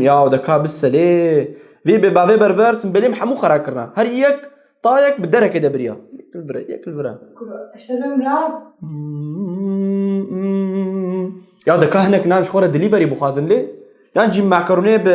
Ya de ka bi selê vê bê bavê berber sin belê min hemû xera kirina. Her yek tayek bi derekê de biriya. Yekil bire, yekil bire. Ya de ka hinek nan ji xwe re dilî berî bixwazin lê yan jî makarone bi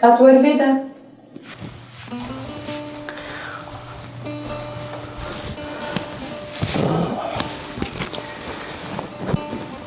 Kat wer vê de.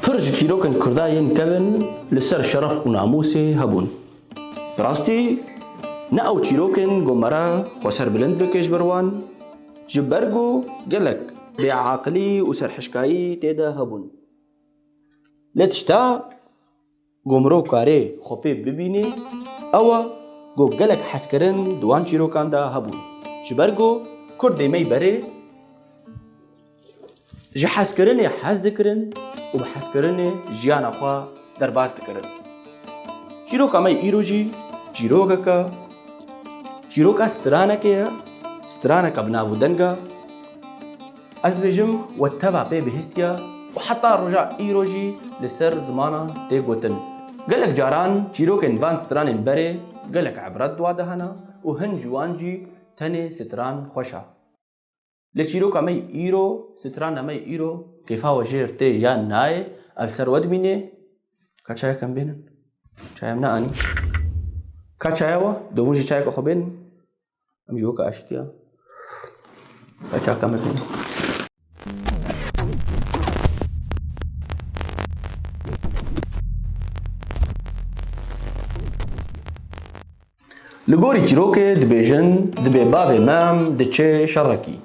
Pir ji çîrokên Kurda yên kevin li ser şeref û namûsê hebûn. Bi rastî ne ew çîrokên ku me re xwe serbilind bike ji ber wan, ji ber ku gelek bêaqilî û serhişkayî tê de hebûn. Lê tişta. Ku mirov karê xwe pê bibînê ew e ku gelek hezkirin di wan çîrokan de hebûn. Ji ber ku Kurd dê mey berê ji hezkirinê hez dikirin û bi hezkirinê jiyana xwe derbas dikirin. Çîroka me yê îro jî çîrokeke çîroka stranekê ye, straneke bi nav û deng e Ez dibêjim we teva pê bihîstiye û heta roja îro jî li ser zimanan tê gotin. Gelek caran çîrokên van stranên berê gelek ibret di wan de hene û hin ji wan jî tenê stran xweş e. Lê çîroka me yê îro, strana me yê îro kêfa we jêr tê yan nayê ev li ser we dimînê. Ka çayek em bênin. Çayê em neanî. Ka çaya we, domin jî çayeke xwe bênin. Mijoka aştiya. Kaçaka me pê. Li gorî çîrokê dibêjin dibê bavê me diçe şerekî.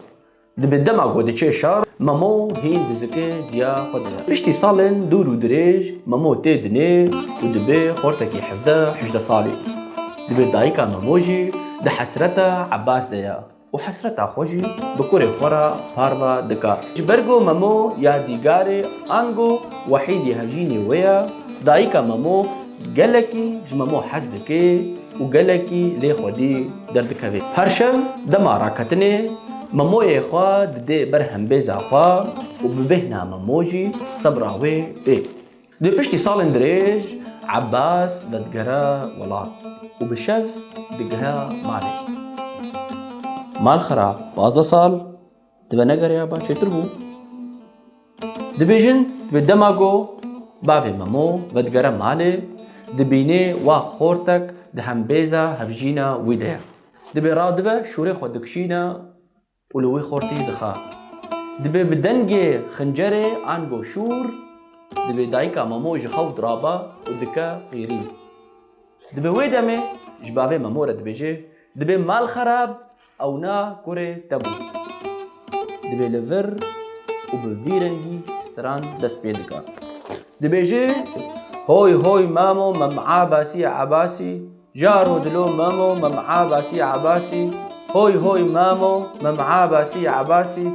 Dibe dema ku diçe şar, Memo hîn dizike diya xwe dibe. Piştî salên dûr û dirêj Memo tê dinê û dibe xortekî hevdeh hejdeh salî. Dibe dayika Memo jî di hesreta Ebas de ye û hesreta xwe jî bi kurê xwe re parve dike. Ji ber ku Memo yadîgarê ango Wehîdê hevjînê wê ye, dayika Memo Gelekî ji Memo hez dike û gelekî lê xwedî derdikeve. Her şev dema raketinê Memoyê xwe didê ber hembêza xwe û bi bêhna Memo jî sebra wê tê. Dê piştî salên dirêj Ebas vedigere welat û bi şev digere malê. Malxera pazdeh sal Dibe negereya ba çêtir bû. Dibêjin bi dema go bavê Memo vedigere malê dibînê wa xortek di hembêza hevjîna wî de ye. Dibê radibe şûrê xwe dikişîne û li wî xortî dixe. Dibê bi dengê xincerê an go şûr dibê dayika Memo ji xew dirabe û dike qîrî. Dibê wê demê ji bavê Memo re dibêje dibê mal xerab Ewna kurê te bû. Divê li vir û bi vî rengî stran dest pê dika. Dibêje Hoy hoy memo mem Abasî Abasî Jaro dilo memo mem Abasî Abasî Hoy hoy memo mem Abasî Abasî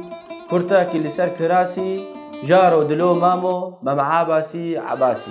Kurta ki li ser kirasî Jaro dilo memo mem Abasî Abasî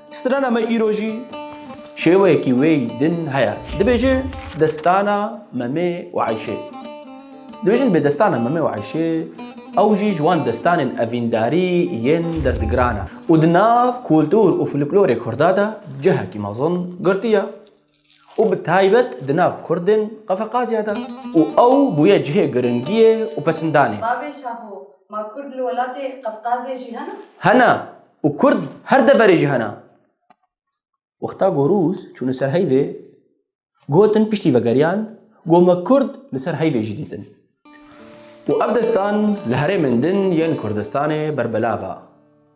Strana me îro jî şêweyekî wê din heye. Dibêje destana Memê û Eyşê. Dibêjin bê destana Memê û Eyşê ew jî ji wan destanên evîndarî yên derdigiran e û di nav kultur û fluklorê kurda de cihekî mezin girtiye. û bi taybet di nav Kurdên Qefeqazya de û ew bûye cihê giringiyê û pesindanê. Bavê Şaho, Ma Kurd li welatê Qefqazê jî hene? Hene û Kurd her deverê jî hene. Wexta ku Rûs çûne ser heyvê, gotin piştî vegeriyan ku me Kurd li ser heyvê jî dîtin. Û ev destan li herêmên din yên Kurdistanê berbelav a.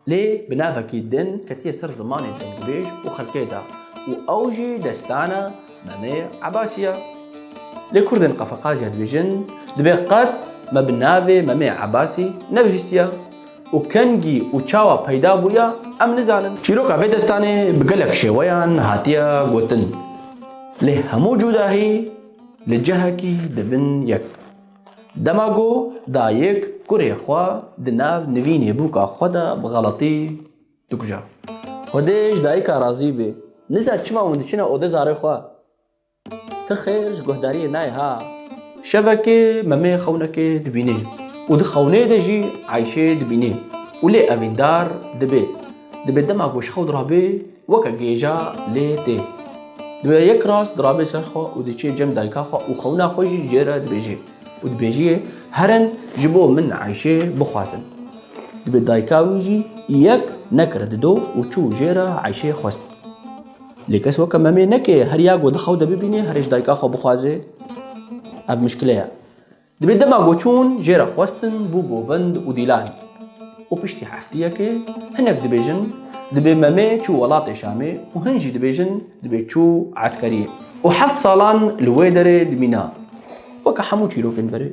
Lê bi navekî din ketiye ser zimanê dengubêj û xelkê de û ew jî destana Meme Ebasî ye. Lê Kurdên Qafaqaziya dibêjin dibê qet me bi navê Meme Ebasî nebihîstiye û kengî û çawa peyda bûye em nizanin. Çîroka vê destanê bi gelek şêweyan hatiye gotin. Lê hemû cudahî Li cihekî di bin yek de. Dema ku dayik kurê xwe di nav nivînê bûka xwe de bi xeletî dikuje. Xwedê ji dayika razî bê. Nizar çima hûn diçine odê zarê xwe. Ti xêr ji guhdariyê nayê ha. Şevekê Memê xewnekê dibînê û di xewnê de jî Ayşê dibînê û lê evîndar dibe. Dibe dema ku ji xew dirabe weke gêja lê tê. Dibe yek rast dirabe ser xwe û diçe cem dayika xwe û xewna xwe jî jê re dibêje û dibêjiyê herin ji bo min eyşê bixwazin. Dibe dayika wî jî yek nekire dido û çû jê re eyşê xwest. Lê kes weke memê neke her ya ku di xew de bibîne herê ji dayika xwe bixwaze ev mişkile ye. Dibê dema ku çûn jê re xwestin bû govind û dîlan û piştî hefteyekê hinek dibêjin dibê Memê çû welatê Şamê û hin jî dibêjin dibê çû eskeriyê û heft salan li wê derê dimîna weke hemû çîrokên berê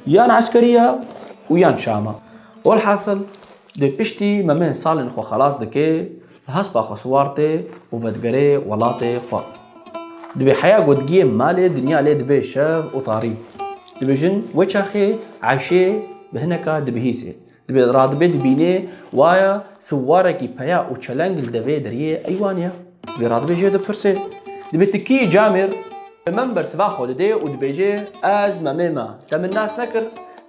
yan eskeriya û yan Şama. Welhasil dê piştî Memê salên xwe xelas dike Bi hespa xwe siwar tê û vedigerê welatê xwe. Divê heya gotigiyê malê dinya lê dibe şev û tarî. Dibêjin wê çaxê eyşê bi hineka dibihîsê. Divê radibe dibînê waya siwarekî peya û çeleng li devê deriyê eywan ye. Divê radibe jê dipirsê. Divê ti kî yî camêr? Bi min bersiva xwe didê û dibêje ez memê me te min nas nekir.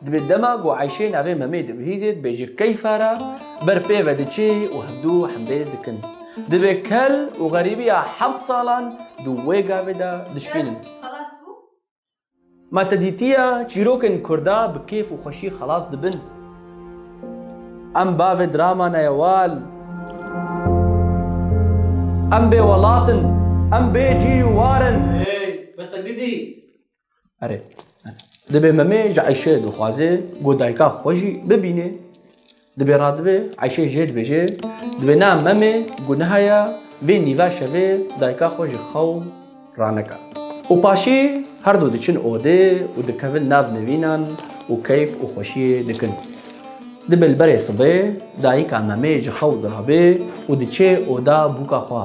Divê dema ku Ayşê navê Memê dibihîzê dibêje keyfa re ber pê ve diçê û hevdu hembêz dikin. Divê kel û xerîbiya heft salan di wê gavê de dişkînin. Ma te dîtiye çîrokên kurda bi kêf û xweşî xelas dibin. Em bavê dirama ne ye wal. Em bêwelat in. Em bê cî û war in. Hey, bes e gidî. Erê. Dibê memê ji Eyşê dixwazê ku dayika xwe jî bibînê. Dibê radibê Eyşê jê dibêje dibê na memê ku nihaya vê nîva şevê dayika xwe ji xew raneka. Û paşê her du diçin odê û dikevin nav nivînan û keyf û xweşiyê dikin. Dibê li berê sibê dayika memê ji xew dirabe û diçe oda bûka xwe.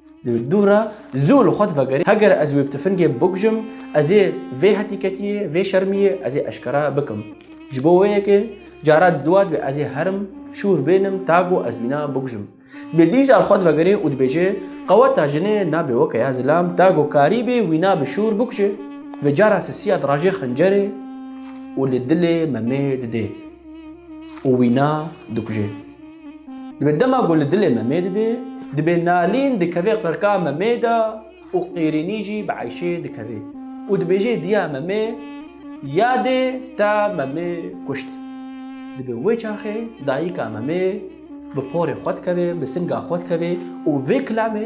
Li dû re zû li xwe divegerî, heger ez wê bi tifingê bikujim, ez ê vê hetîketiyê, vê şermiyê ez ê eşkera bikim. Ji bo wê yekê cara dua dibe ez ê herim şûr bênim ta ku ez wîna bikujim. Dibê dîsa li xwe divegerê û dibêje, Qeweta jinê nabe weke ya zilam, ta ku karî bê wîna bi şûr bikuje. Vê cara sisiya dirajê xincerê û li dilê memê didê û wîna dikuje. Dibê dema ku li dilê me mê dide, dibê nalîn dikeve qirka me mê de û qîrînî jî bi eyşê dikeve û dibêje diya me mê ya dê te me mê kuşt. Dibê wê çaxê dayîka me mê bi porê xwe dikeve, bi singa xwe dikeve û vê kilamê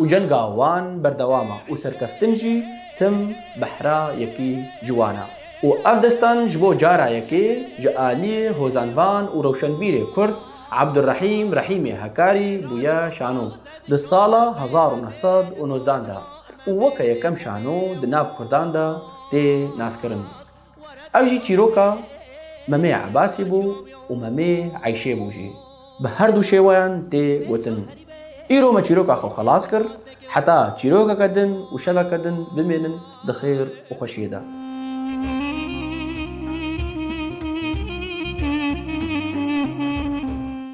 û cenga wan berdewam e û serkeftin jî tim behra yekî ji wan e û ev destan ji bo cara yekê ji aliyê hozanvan û rewşenbîrê kurd Abdurrahîm Rahîmê Hekarî bûye şano di sala hezar û neh sed û nozdan de û weke yekem şano di nav kurdan de tê naskirin. Ev jî çîroka Memê Ebasî bû û Memê Eyşê bû jî. Bi her du şêweyan tê gotin. Îro me çîroka xwe xelas kir, heta çîrokeke din û şeveke din bimênin di xêr û xweşiyê de.